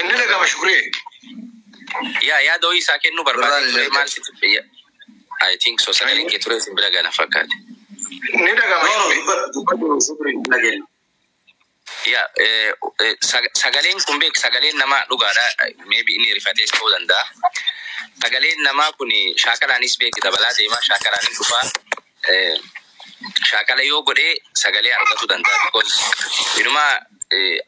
Inni dhagama shukuree. Yaa yaada ho'ii isaa kennuu Birraan barbaadee hin ture ergan. maal sitti ya- I think so sagaleen kee ture isin bira gana fakkaate. Inni dhagama No, no, shukuree. dubbadhu, dubbadhu, shukrii, hin dhageenye. Yaa eh, eh, sag- sagaleen kun beek sagaleen namaa dhugaadha maybe inni rifatees ta'uu danda'a. Sagaleen namaa kun shaakalaanis beeki dabalaa deemaa shaakalaanis dhufaa shaakala yoo godhee sagalee argatu danda'a because inuma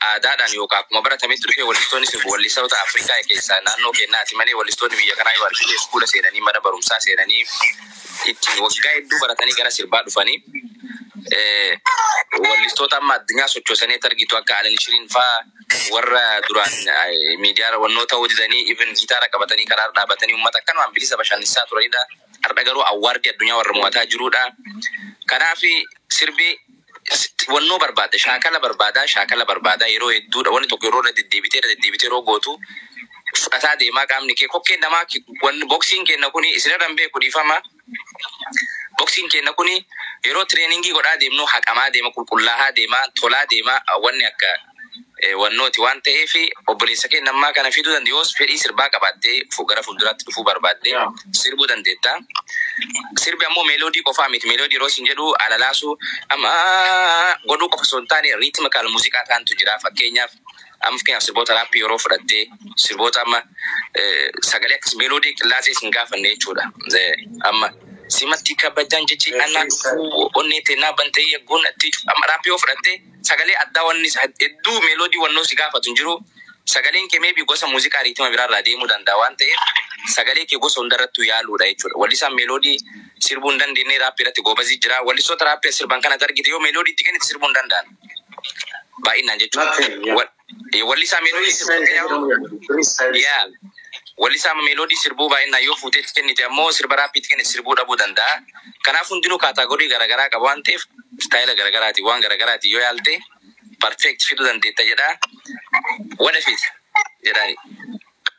aadaadhaan yookaan akkuma baratametti dhufee wallistoonni sirbu wallistoota Afrikaa keessaa naannoo keenyaati malee wallistoonni biyya kanaa yoo argite iskuula seenanii mana barumsaa seenanii ittiin waggaa hedduu baratanii gara sirbaa dhufanii wallistoota amma addunyaa sochoosanii argitu akka Alin Shiriin faa warra duraan miidiyaa wannoota hojjetanii even gitaara qabatanii karaa dhaabatanii uummata akkanumaan bilisa bashannansiisaa turanidha. Hardha garuu awwaardi addunyaa warra mo'ataa jiruudha. Kanaaf sirbi wannoo barbaada, shaakala barbaada, shaakala barbaada. Yeroo hedduudha wanni tokko yeroo irra deddeebitee irra deddeebitee yeroo gootu fudhataa deemaa qaamni kee kokkeen namaa wanni boksiin kenna kuni isinirra hin beeku dhiifama. Boksiin kenna kuni yeroo tireeningii godhaa deemnu haqamaa deema, qulqullaahaa deema, tolaa deema wanni akka wannooti waan ta'eef obboleessa kee nammaa kana fiduu dandeenya yoos fedhii sirbaa qabaattee gara fuulduraatti dhufuu barbaaddee sirbuu dandeetta. Sirbi ammoo meeloodii qofaa miti meeloodii yeroo isin jedhu alalaasuu amma godhuu qofa osoo hin taane riitimikaal muuziqaa taantu jira fakkeenyaaf amma fakkeenyaaf sirboota raappii yeroo fudhattee sirboota amma sagalee akkas meeloodii qillaasee isin gaafanne jechuudha amma. Simatti kabajaan jechi anaa dhufuu onnee teenaa bantee yagguun atti amma raappii yoo fudhattee Sagalee addaa wanni hedduu melody wannoo si gaafatu hin jiru. Sagaleen kee maybe gosa muuziqaa riitima biraa irraa deemuu danda'a waan ta'eef sagalee kee gosa hunda irrattuu yaaluu dha jechuudha. Wallisaan melody sirbuu hin dandeenne rap irratti goobazii jira. Wallistoota rap sirban kan ati argite yoo melody itti kennite sirbuu hin danda'an baay'inaan jechuudha. Eh, Wallisaa meeloodii sirbuu akka yaa'u. Yaa. Wallisaa meeloodii sirbuu baay'inaan yoo fuutee itti kennite ammoo sirba raappii itti kennite sirbuu dhabuu danda'a. Kanaaf hundinuu kaataagorii garaagaraa qaba waan ta'eef istaayila garaagaraatiin waan garaagaraatiin yoo yaalte perfect fiduu dandeetta jedha. What if it? jedhaani.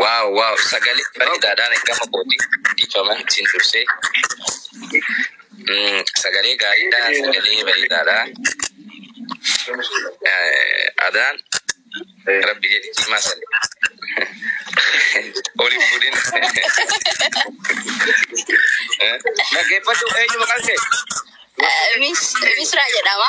Waaw waaw sagalee bareedaadhaan ergama kooti dhiifama isin dursee. Mm, Sagalee gaariidha sagalee bareedaadha. Eh, Adaan rabbi jedhi cimaa sale. Oli fuudhin. Eh, Dhaggeeffadhu eenyu maqaan kee? Misraa jedhama.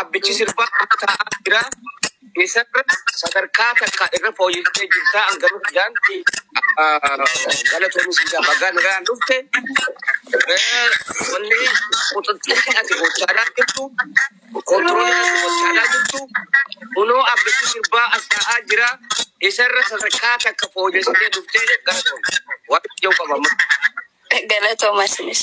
Abbichi sirbaa amma taa'aa jira. Isarra sadarkaa takka irra fooyyessee jirta hanga hundaan galatoomi siidaa bagaa nagaan dhufte. Eh, Wanni quxuxxirri ati gochaadhaa jirtu kontiroolii ati gochaadhaa jirtu kunoo abbichi sirbaa as taa'aa jira. Isarra sadarkaa takka fooyyessitee dhuftee galatoomi. Waaqayyo qabama. Galatoomaa isinis.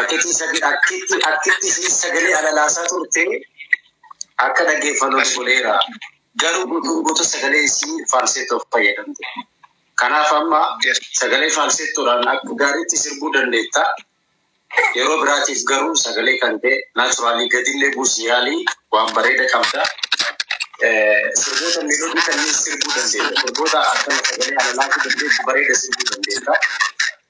Akkitti sagalee akkitti akkitti isheen sagalee alalaasaa turte akka dhaggeeffannu nu godheera. Garuu guutuun guutuu sagalee isii faalseettoof fayyadamte. Kanaaf amma sagalee faalseettoodhaan akka gaariitti sirbuu dandeetta. Yeroo biraatiif garuu sagalee kan ta'e naachuraalii gadillee buusii yaalii waan bareeda qabda. Eh, Sirboota meelodii kanneen sirbuu dandeetta. Sirboota akkana sagalee alalaatii dandeessu bareeda sirbuu dandeetta.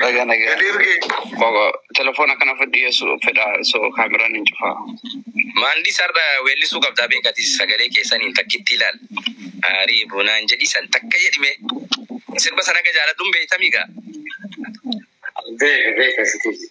Baga nagaa. Bogo, telefoona kana fudhi yesu fedha so kaameraan hin cufaa. Maandii sarda weellisuu qabdaa beekati sagalee keessaniin takkitti ilaal. Aarii bunaan jedhi san takka jedhime. Sirba sana aga jaaladhuun beektamigaa. Beeka beeka sitii.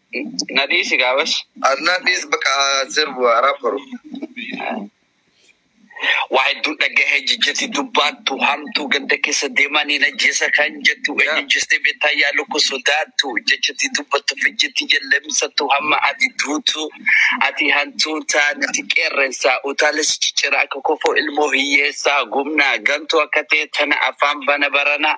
Na dhiisi gaa bas. Adnaa dhiis bakka sirbu haaraa faru. Waa hedduu dhagahe jijjati dubbaattu hamtuu ganda keessa deemaa ni najjeessa kan jettu eenyu jistee beektaa yaa lukku sodaattu jechati dubbattu fijjiti jallemsattu hamma ati duutu ati hantuutaa nuti qeerrensaa utaalee si ciccira akka kofoo ilmoo hiyyeessaa gumnaa gantuu akka ta'e tana afaan bana baranaa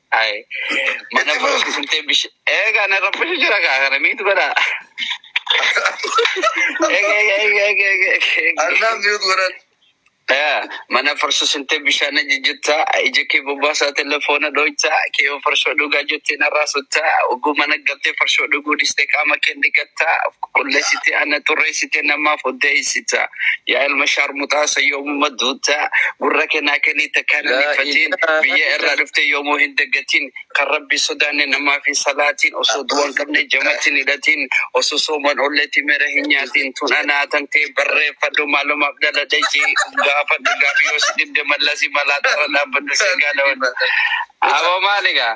Ay, mana barumsa sintee bish. Eega na rabbishu jira kaa kana miitu godha. Eega eega eega eega eega eega. Arnaan miyuut godhan. Eh, Mana farsu sintee bishaan na jijjitta ija kee bobbaasaa telefoona dhooyta kee yoo farshoo dhugaa jettee narraa sutta oguu mana galtee farshoo dhuguu dhistee qaama kee dhiqatta qulleessitee ana xurreessitee namaaf oddeessita yaa ilma shaarmuxaa sayyoo Umma duuta gurra kenaa kenii takkaan hin hifatiin biyya irraa dhuftee yoomuu hin daggatiin kan rabbi sodaanne namaa fi salaatiin osoo du'an qabne jamatiin hidhatiin osoo sooman olleetii mera hin nyaatiin tun anaa tantee barreeffadhu maalumaaf dhaladhe jii gaafadhu gaafi yoo si dhibde mallasi malaa tarra dhaabbadhu si gaalawadhu aboo maaligaa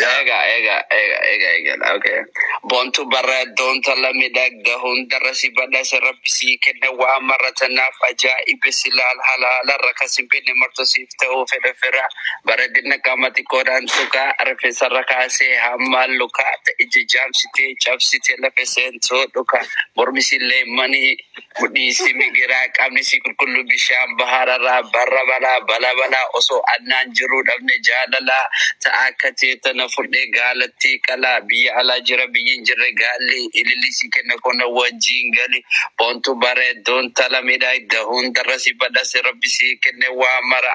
Eega eega eega eega eegadha okay. Boontu bara doonta lamidhagda hundarra si badhasa rabbi sii kenna waan marra tanaaf ajaa'ibe si laal halaalarra kan si binne marto siif ta'uu fedha fira bareedina qaama xiqqoodhaan tuqaa rifeensarra kaasee hamma lukaa ta'e ija jaamsitee cabsitee lafe seentuu dhuka mormisillee manii Kudhiisi migiraa qabni si qulqulluu bishaan bahararraa barra balaa bala balaa osoo annaan jiruu dhabne jaalalaa ta'a akka teetta na fudhee gaalattii qalaa biyya alaa jira biyyin jirre gaalli ililli si kenna kona wajjiin gali boontu bareedduun tala midhaayda hundarra si badhase rabbi si kenne waa mara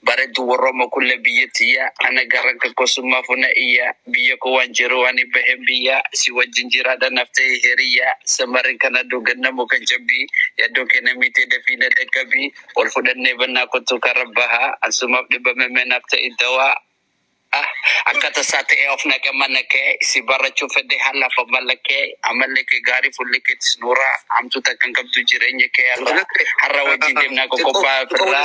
bareeddu warrooma kulle biyya tiyya ana garranka kosummaa funa iyyaa Biyya koo waan jiruu ani bahen biyyaa si wajjin jiraadha naf ta'e hiriyyaa samarri kan aduu ganna muka cabbii yaddoon kee na miitee dafii na dhaqqabii ol fudhannee bannaa kottuu karra bahaa ansumaaf dhibame mee naaf ta'i dawaa ah akka tasaa ta'e of naqe mana kee si barachuu fedhe haalaaf amala kee amalli kee gaarii fuulli keetis nuuraa hamtuu takka hin qabdu jireenya kee har'a har'a wajjin deemnaa qoqobbaa firraa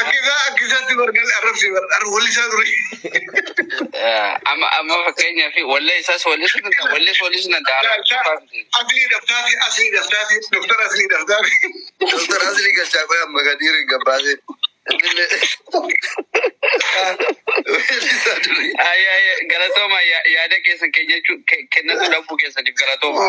Akkisaa akkisaatti bargal arrabsi bar ar wallisaa ture. Eh, Amma amma fakkeenyaa fi wallee isaas wallisuu danda'a. Wallees wallisuu danda'a. Arrabsuufaa miti. Asli daftaati asli daftaati doktar asli daftaati. Doktar Asli Galchaa qoy amma Kadiir hin gabbaase. Innillee weellisaa durii. Ay, ay, ay, galatooma ya- yaada keessan keenyachuu ke- kennachuu dhabuu keessaniif galatooma.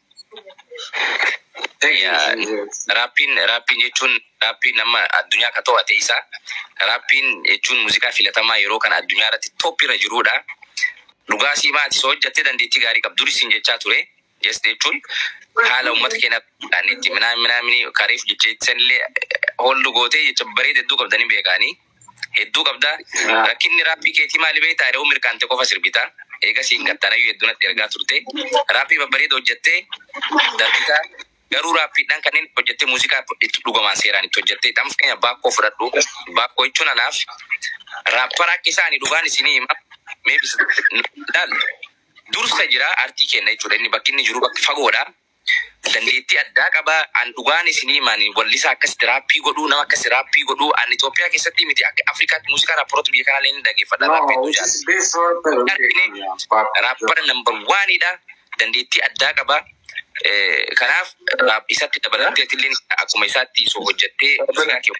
Raappiin raappiin jechuun raappiin amma addunyaa akka to'ate isa raappiin jechuun muuziqaa filatamaa yeroo kana addunyaa irratti tooppi irra jiruudha. Dhugaa sii maati soo hojjattee dandeettii gaarii qabdu duris siin jechaa ture jest jechuun haala uummata keenya itti minaa minaa minii kareef jechee sanillee hooldu gootee jecha bareeda hedduu qabdanii beekaanii. hedduu qabda rakkinni raapii keetii maali beektaa yeroo mirqaante qofa sirbita eega siin gattaanayyuu hedduu natti ergaa turte raapii babbareeda hojjattee darbita garuu raapiidhaan kanneen hojjatte muuziqaa itti dhugamaan seeraan itti hojjatte dhamf keenya baakkoo fudhadhu baakkoo jechuun anaaf raappara akka isaani dhugaan isinii hima mee bis- laal dursa jira artii kenna jechuudha inni bakki inni jiru bakki fagoodha Dandeettii addaa qaba. An dhugaan isinii hima ani wallisaa akkasitti raappii godhuu nama akkasi raappii godhuu an Itoophiyaa keessattii miti akka Afrikaatti muuziqaa raapparoota biyya kanaa illee ni dhageeffadha No, raappii hedduu which is jaallata. best rapper in Argine Kenya? But raappara number one dha. Dandeettii addaa qaba. Eh, Kanaaf raap- isatti dabalattee atillee akkuma isaatti osoo hojjettee muuziqaa kee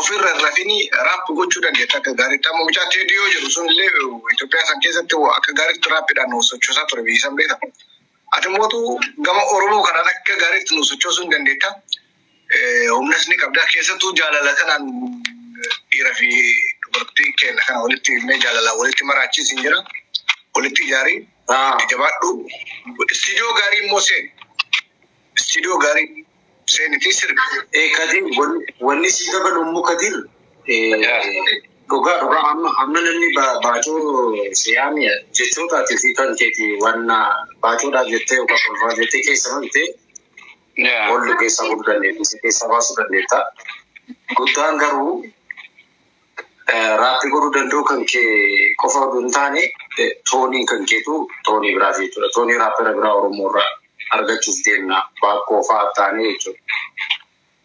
ofirra hin rafini raap gochuu dandeetta akka gaariitti. Amma mucaa Teedii yoo jedhu sun illee Itoophiyaa san keessatti akka gaariitti raappiidhaan nu sochoosaa ture biyyi san beekta. Ati mootu gama Oromoo kanaan akka gaariitti nu sochoosuu hin dandeetta. Eh, Humnas ni qabda. Keessattuu jaalala kanaan dhiira fi dubartii keenya kana walitti himnee jaalalaan walitti maraachis hin jira. Walitti ijaarii Ah. jabaadhu. Istiidiyoo gaarii immoo seeni. Istiidiyoo gaarii. Seeniti sirbi. Ee Kadir wan- wanni sii dabalu immoo Kadir eh, dhugaa dhugaa amma amma namni ba- baacoo siyaami jechootaati fi kan keeti waan baacoodhaa jettee yookaan kolfaa jettee keessa malte ol keessaa godhu dandeetti si keessaa baasuu dandeetta. Guddaan garuu Raappii godhuu danda'uu kan kee qofa oduu hin taane tooniin kan keetu toonii biraati jechuudha. Toonii raappera biraa Oromoo irraa argachuuf deemna baakkoo fa'aa taanee jechuudha.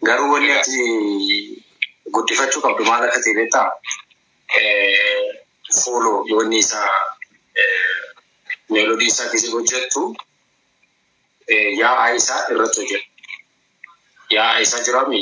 Garuu wanni ati guddifachuu qabdu maal akka ta'e beektaa? Fuuloo wanni isaa meelodii isaa keessa hojjettu yaa'aa isaa irratti hojjeta. Yaa'aa isaa jiraami.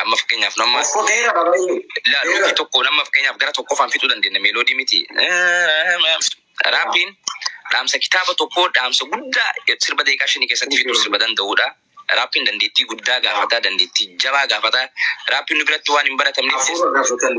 Amma fakkeenyaaf nu amma Okkoo dheera dha baay'ee. la Dheera. nuutii tokko nama fakkeenyaaf gara tokkoffaan fixuu dandeenya meeloodii miti. Raappiin dhaamsa kitaaba tokkoo dhaamsa guddaa sirba daqiiqaa shanii keessatti fixuu sirba danda'udha. Raappiin dandeettii guddaa gaafata, dandeettii jabaa gaafata. Raappiin nu biratti waan hin baratamneef Hafuura gaafatan.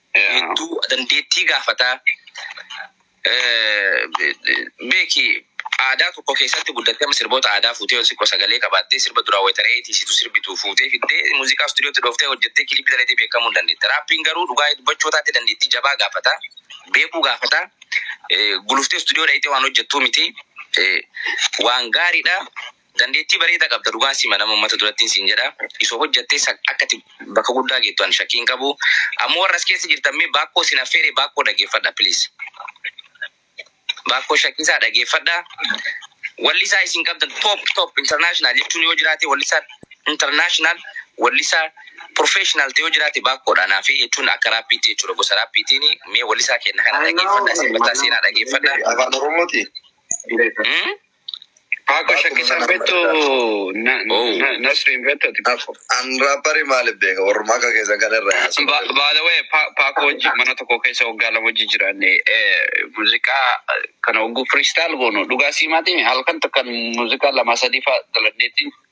hedduu dandeettii gaafata. Beeki aadaa tokko keessatti guddattee amma sirboota aadaa fuutee yoo xiqqoo sagalee qabaattee sirba duraa wayita re'ee tiisitu sirbitu fuutee fiddee muuziqaa istuudiyootti dhooftee hojjettee kiliippii dalaydee beekamuu hin dandeette. Raappiin garuu dhugaa dubbachuu taate dandeettii jabaa gaafata. Beekuu gaafata. Guluftee istuudiyoo dhayxee waan hojjettuu miti. Waan gaariidha. Dandeettii bareeda qabda dhugaan sima nama ummata durattin sin jedha iso hojjatte san akka ati bakka guddaa geettu an shakkii hin qabu ammo warra as keessa jirtan mee baakkoo sin affeere baakkoo dhageeffadha please baakkoo shakkisaa dhageeffadha wallisaa isin qabdan top top international jechuun yoo jiraate wallisaa international wallisaa professional ta'e yoo jiraate baakkoodha naa fi jechuun akka raappiitti jechuudha gosa raappiitiin mee wallisaa kenna kana dhageeffadha isin bataa seenaa dhageeffadha Afaan Oromooti. Hmm? Paako shakkisaan beektu Nasriin beektu ati Paako. An raappari maaliif beeka warruma akka keessan kana irra yaasu. By the way, Paako wajjin mana tokko keessa waggaa lama wajjin jiraanne muuziqaa kana ogguu freestyle goonu dhugaa sii maatiin halkan tokko muuziqaa lama sadii fa'a dalagneetiin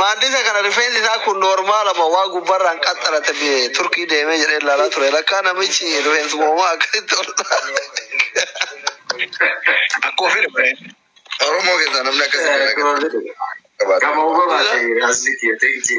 Maaddisa kana rifeensi isaa kun noormaala moo waa gubbarraan qaxxalate biyye turkii deemee jedhee ilaalaa ture. Lakkaa namichi rifeensi moomaa akkasitti ol Akka ofii dha. Oromoo keessaa namni akkasitti Gama uumamaati. Asii kiyya ta'e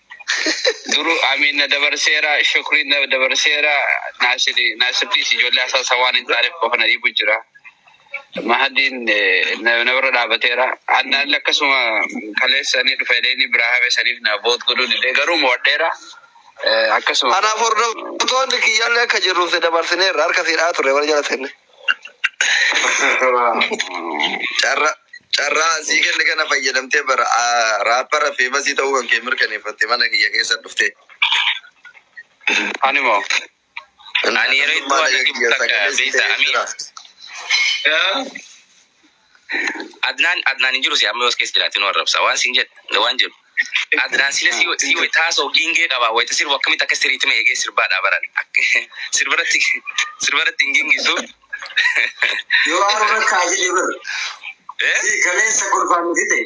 Duru Amiin na dabarseera, Shukriin na dabarseera, Naasiri Naasirtiis ijoollee asaasa waan hin taaneef qofa na dhiibu jira. Mahadiin eh, na na bira dhaabateera. Annaan akkasuma kaleessanii dhufa jedhanii biraa hafe saniif na boot godhuu didee garuu mo'adheera. Eh, Akkasuma Kanaaf hordoftoonni kiyyaallee akka jirruuf si dabarsineerra harka siidhaa ture wal jala seenne. Carra carraa asii kenne kana fayyadamtee bara ah, raappara feemasii ta'uu kan kee mirkaneeffatte mana kiyya keessa dhuftee. Ani moo. Ani yeroo itti waan natti butakka beekta amii. Adnaan Adnaan hin jiru si amma yoos keessa jiraate nu arrabsa waan siin jedhe waan jedhu Adnaan sila si si wayita haasa'u giingee qaba wayita sirbu akkamitti akka sirriitti ma eegee sirbaa dhaabaran sirbarratti sirbarratti hin giingisu. Yoo haaruu rakkaa jedhe bara. Kaleessa kolfaan nuti ta'e.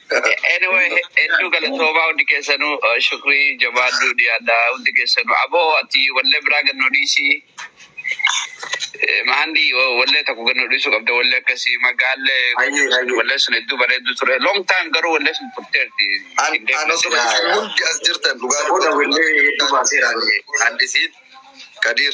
Anyway, hedduu galatoomaa hundi keessanuu eh, shukrii jabaaduu dhiyaadha hundi keessanuu. Aboo ati wallee biraa gannoo dhiisii. Eh, Mahandii oh, wallee tokko gannoo dhiisuu qabda wallee akkasii magaallee Hayyee, hayyee. wallee sun hedduu bareedduu ture. Long time garuu wallee sun turteerti. An- Hin deemne anas sila. hundi as jirtan dhugaa Booda dubbachuu wallee hedduu baaseera. Handisiin Kadiir.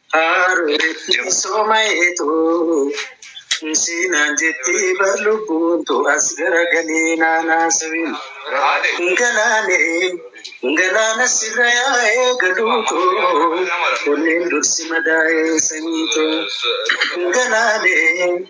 Haaruu ittiin soomayeetu siinaan jettee bar lubbuun tu as garagalee naanaa sabiin. Galaanee galaana sirra yaa'ee galuutu kunneen dursi madaa'ee sanyiitu. Galaanee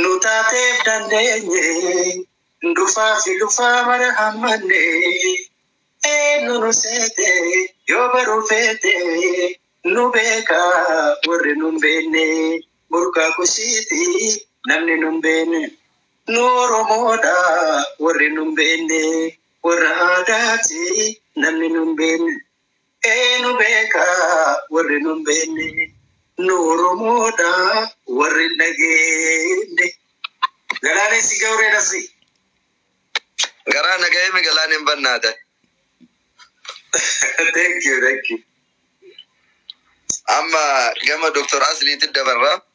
Nu taateef dandeenye dhufaa fi dhufaa mara hammanne eenyu nu seete yoo baruu feete nu beeka warri nun beenne burqaa kusiiti namni nun beenne nu oromoodha warri nun beenne warra aadaati namni nun beenne Eenu beeka warri nu hin beekne, nu Oromoodha warri hin dhageenye. Galaanessi jawree nasri. Garaa nagahee mi galaan hin bannaata. Thank you, thank you. Amma gama Dr. Asliitti dabarra.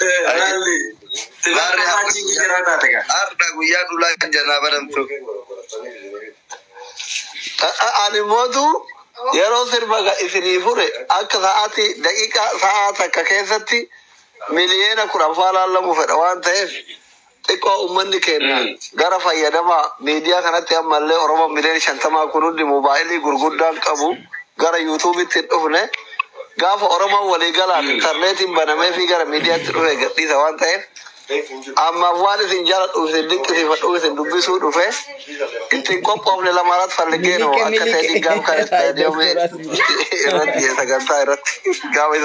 Laalli. Laalli haa- Achi jijjiirraa taate gaa. Har'a guyyaa dhulaa kan jannaa baramtu. Ani mootu yeroo sirba ga- isinii fure akka sa'aatii daqiiqaa sa'aa takka keessatti miliyoona kudhan faa laallamu fedha waan ta'eef Xiqqoo ummanni keenya gara fayyadama miidiyaa kanatti ammallee Oromoon miliyoona shantamaa kun hundi moobaayilii gurguddaan qabu gara yuutuubitti hin dhufne. Gaafa Oromoon walii galaan intarneetiin banameefii gara miidiyaatti dhufee gadhiisa waan ta'eef ammaaf waan isin jaaladhuuf isin dinqisiifadhuuf isin dubbisuu dhufe itti hin qophoofne lamaaraat falliggeenu Miliqe, akka miliqe. ta'e gaaf kan istaadiyoomii irratti sagantaa irratti gaafa